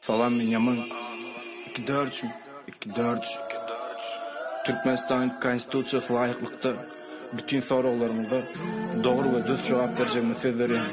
Salam Binýamin. Iki dörç, iki dörç. Türkmenistanyň Konstitusiýasyna laýyklykda bütin soraglaryňyza dogry we dürs jogap berjegime söz berýän.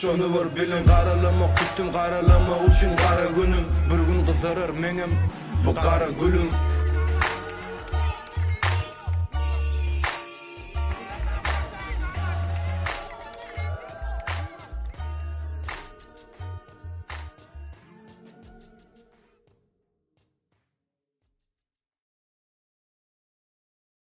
Şony bir biliň garalama kutdym garalama uçin gara günüm bir gün gyzarar meňem bu gara gülüm.